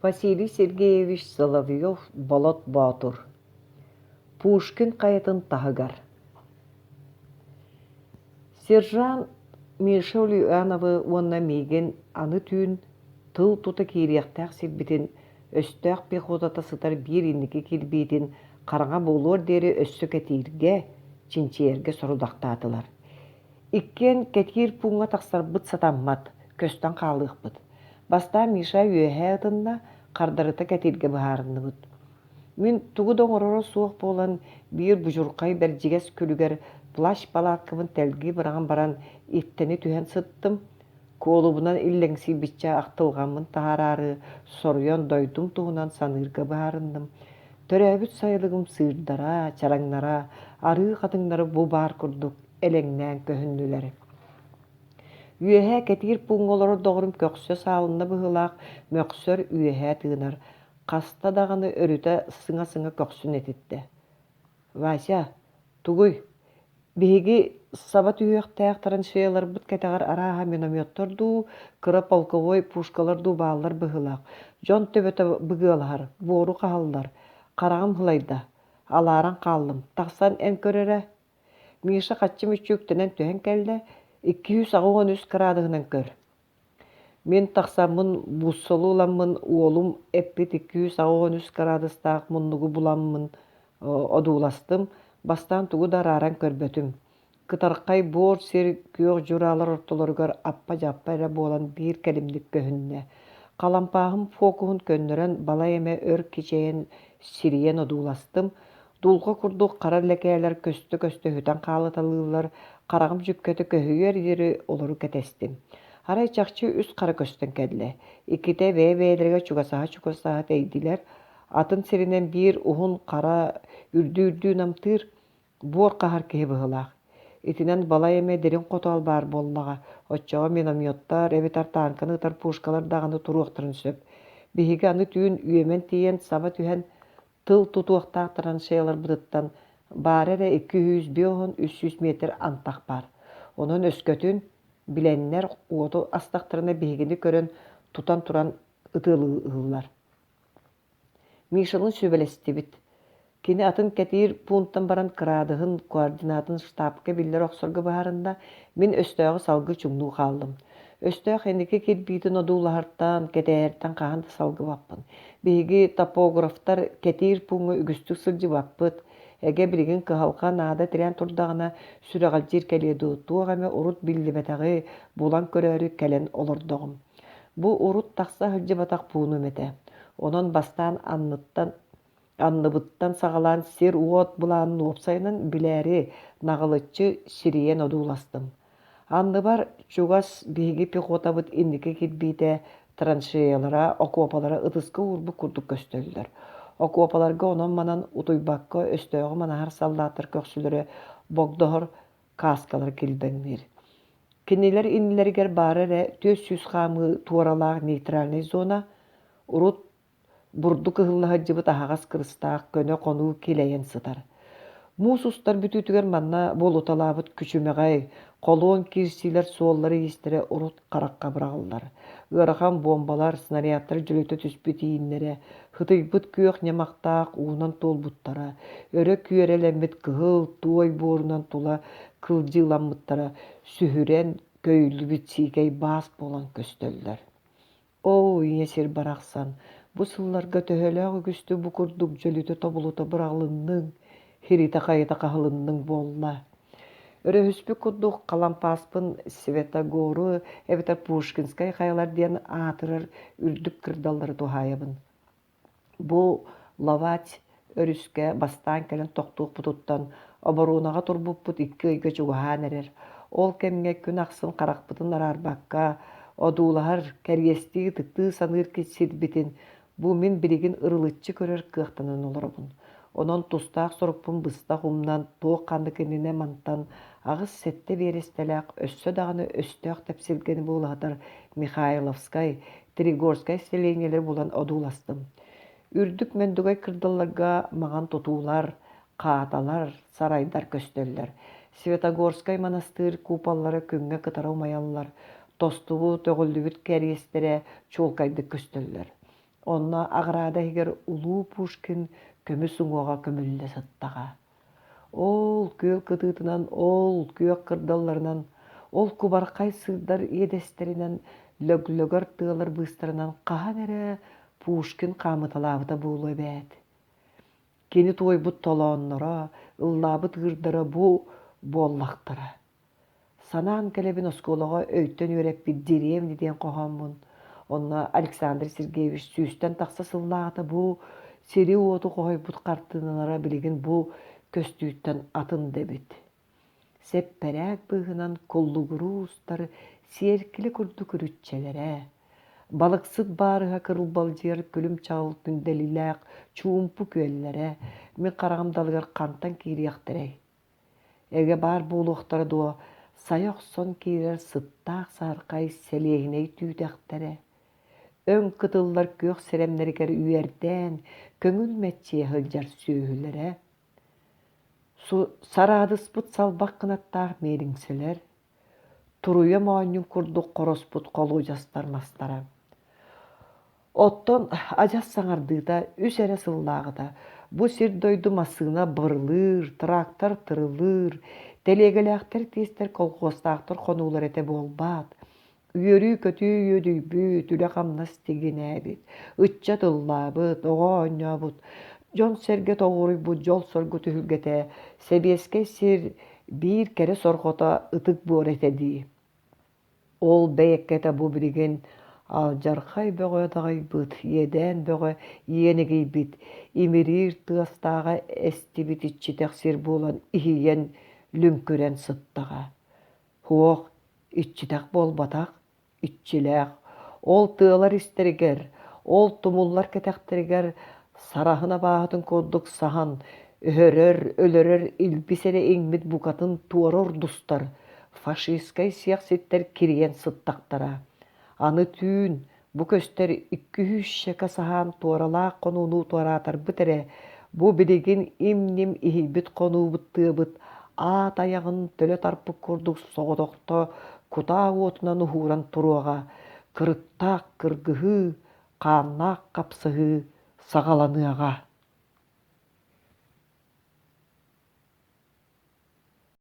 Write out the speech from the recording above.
Василий Сергеевич Соловьев Болот Боотур Пушкин хайатын таһыгар Сержант Миша Ульяновы уонна миигин аны түүн тыл тута киириэхтээх сирбитин өстөөх пехотата сытар биир инники кирбиитин хараҥа буолуор диэри өссө кэтииргэ, чинчийэргэ сорудахтаатылар Иккиэн кэтиир пууҥҥа тахсарбыт сатаммат, көстөн хаалыахпыт. Бастаан Миша үөһэ ытынна, хардарыта кэтииргэ быһаарынныбыт. Мин тугу да оҥороро суох буолан, биир будьурхай бэрдьигэс күлүгэр плащ-палааккабын тэлгии быраҕан баран истэни түһэн сыттым, куолубунан иллэҥсийбиччэ ахтылҕаммын таһаараары соруйан дойдум туһунан саныырга быһаарынным. Төрөөбүт сайылыгым сыырдара, чараҥнара, арыы хатыҥнара бу баар курдук элэҥнээн көһүннүлэр. Үөһэ кэтиир пууҥҥа олорор доҕорум көхсө саалынна быһыылаах, мөхсөр үөһэ тыынар, хаста даҕаны өрүтэ сыҥа-сыҥа көхсүн этиттэ. «Вася, тугуй? Биһиги саба түһүөхтээх траншеяларбыт кэтэҕэр арааһа минометтар дуу, кыра полковой пушкалар дуу бааллар быһыылаах. Дьон төбөтө быгыалаһар, буору хаһаллар. Хараҕым һылайда. Алааран хааллым. Тахсан эн көрөрө, Миша хаччы мүччүктэнэн түһэн кэллэ, икки сүүс аҕыс уон үс кыраадыһынан көр. Мин тахсаммын бууссалыы ыламмын уолум эппит икки сүүс аҕыс уон үс кыраадыстаах муннугу буламмын одууластым, бастаан тугу да арааран көрбөтүм. Кытархай буор сир күөх дьураалар ортолоругар аппа-дьаппа эрэ буолан биир кэлимник көһүннэ. Халампааһым фокуһун көннөрөн балай эмэ өр кичэйэн сирийэн одууластым, Дулҕа курдук хара лэкээлэр көстө-көстө сүтэн хаалыталыыллар, хараҕым дьүккэтэ көһүйүөр диэри олору кэтэстим. Арай чахчы үс хара көстөн кэллэ. Иккитэ бэйэ-бэйэлэригэр чугасаһа-чугасаһа тэйдилэр. Атын сиринэн биир уһун хара үрдүү-үрдүү намтыыр, буор хаһар киһи быһыылаах. Итинэн балай эмэ дириҥ хотоол баар буоллаҕа, оччоҕо минометтар эбэтэр тааҥканы ытар пушкалар даҕаны туруохтарын сөп. Биһиги аны түүн үөмэн тиийэн саба түһэн тыл тутуохтаах траншеяларбытыттан баара эрэ икки сүүс биэс уон үс сүүс метр антах баар онон өскөтүн билэннэр уоту астахтарына биһигини көрөн тутан туран ытыалыыллар мишаны сүбэлэстибит кини атын кэтиир пуунтан баран кыраадыһын координатын штабка биллэр охсорго быһаарынна мин өстөөҕү салгыы чуҥнуу хааллым өстөөх инники кирбиитин одуулаһартаан, кэтээһэртэн хаһан да салгыбаппын. Биһиги топографтар кэтиир пууҥҥа үгүстүк сылдьыбаппыт. Эгэ билигин кыһалҕа наада тирээн турдаҕына, сүрэҕэлдьиир кэлиэ дуу, туох эмэ урут биллибэтэҕи булан көрөөрү кэлэн олордоҕум. Бу урут тахса сылдьыбатах пуунум этэ. Онон бастаан анныттан Анныбыттан саҕалаан сир-уот былаанын уопсайынан билээри наҕылыччы сирийэн одууластым. Анныбар чугас биһиги пехотабыт инники кирбиитэ траншеялара, окуопалара ытыска уурбут курдук көстөллөр. Окуопаларга онон-манан утуйбакка өстөөҕү манаһар саллааттар көхсүлэрэ богдоһор кааскалар килбэҥниир. Кинилэр иннилэригэр баара эрэ түөрт сүүс хаамыы туоралаах нейтральнай зона, урут бурдук ыһыллаһардьыбыт аһаҕас кырыстаах көнө хонуу килэйэн сытар. Муус устар бүтүүтүгэр манна буолуталаабыт күчүмэҕэй, холуон киирсиилэр суоллара-иистэрэ урут харахха быраҕыллар. Ыарахан буомбалар, снарядтар дьөлүтэ түспүт ииннэрэ, хытыйбыт күөх ньамахтаах уунан туолбуттара, өрө күөрэлэммит кыһыл туой буорунан тула кылдьыыламмыттара сүһүрэн, көйүллүбүт сиикэй баас буолан көстөллөр. Оо, ийэ сир барахсан, бу сылларга төһөлөөх үгүстүк бу курдук дьөлүтэ-тобулута быраҕылынныҥ, хиритэ-хайыта хаһылынныҥ буолла? Өрөһүспүт курдук халампааспын Светогору эбэтэр Пушкинскай хайалар диэн аатырар үрдүк кырдаллары туһаайабын Бу Ловать өрүскэ бастаан кэлэн тохтуохпутуттан оборуонаҕа турбуппут икки ыйга чугаһаан эрэр. Ол кэмҥэ күн ахсын харахпытын араарбакка, одуулаһар, кэриэстии ытыктыы саныыр сирбитин бу мин билигин ырылыччы көрөр кыахтанан олоробун. Онон тустаах сорукпун быстах умнан, туох-ханнык иннинэ мантан аҕыс сэттэ биэрэстэлээх өссө даҕаны өстөөх тэпсилгэни буулаһытар Михайловскай, Тригорскай сэлиэнньэлэри булан одууластым. Үрдүк мөндүгэй кырдалларга маҥан тутуулар, хааталар, сарайдар көстөллөр. Светогорскай манастыыр куполлара күҥҥэ кытары умайаллар, тостубу төҕүллүбүт кэриэстэрэ чуолкайдык көстөллөр. Онно аҕараада иһигэр улуу Пушкин көмүс уҥуоҕа көмүллэ сыттаҕа. Ол күөл кытыытынан, ол күөх кырдалларынан, ол кубархай сырдар иэдэстэринэн лөглөгөр тыалар быыстарынан хаһан эрэ Пушкин хаамыталаабыта буолуо эбээт. Кини туойбут толоонноро, ыллаабыт ыырдара бу буоллахтара Санаан кэлэбин оскуолаҕа өйтөн үөрэппит дирээвни диэн хоһооммун. Онно Александр Сергеевич сүүстэн тахса сыллааҕыта бу сири-уоту хоһуйбут хартыыналара билигин бу көстүүттэн атын да эбит. Сэппэрээк быыһынан куллугуруу устар сиэркилэ курдук үрүччэлэрэ, балыксыт баарыһа кырылбалдьыйар күлүм чаҕылытын дэлилээх чуумпу күөллэрэ мин хараҕым далыгар хантан киириэхтэрэй? эгэ баар буолуохтара дуо сайа охсон киирэр сыттаах саархай сэлиэһинэй түүтэхтэрэ өҥ кытыллар күөх сэрэмнэригэр үөрдээн көҥүл мэччийэ сылдьар сүөһүлэрэ сараадыспыт салбах кынаттаах миэлиҥсэлэр Туруйам оонньуун курдук хороспут холуодьастар мастара. Оттон адьас саҥардыыта үс эрэ сыллааҕыта бу сир-дойду массыына бырылыыр, трактор тырылыыр, тэлиэгэлээхтэр тиэстэр колхуостаахтар хонуулар этэ буолбаат үөрүү-көтүү үөдүйбүт, үлэ-хамнас тигинээбит, ычча тыллаабыт, оҕо оонньообут, дьон-сэргэ тоҕуоруйбут дьол-соргу түһүлгэтэ Сэбиэскэй сир биир кэрэ сорҕото ытык буора этэ дии. Ол бэйэккэтэ бу билигин алдьархай бөҕө даҕайбыт, иэдээн бөҕө иэнигийбит, имириир тыастааҕа эстибит иччитэх сир буолан иһийэн, лүҥкүрэн сыттаҕа. Суох, иччитэх буолбатах, иччилээх, ол тыалар истэригэр, ол тумуллар кэтэхтэригэр сараһын абааһытын курдук саһан, өһөрөр, өлөрөр илбис эрэ иҥмит букатын туора ордустар фашистскай сиэх ситтэр кирийэн сыттахтара. Аны түүн, Бу көстөр икки-үһүс щека саһаан туоралаах хонууну туораатарбыт эрэ, бу билигин им-ним иһийбит хонуубут тыабыт аат айаҕын төлө тарпыт курдук соҕотохто кутаа уотунан уһууран туруоҕа, кырыктаах кыргыһыы, хааннаах хапсыһыы саҕаланыаҕа.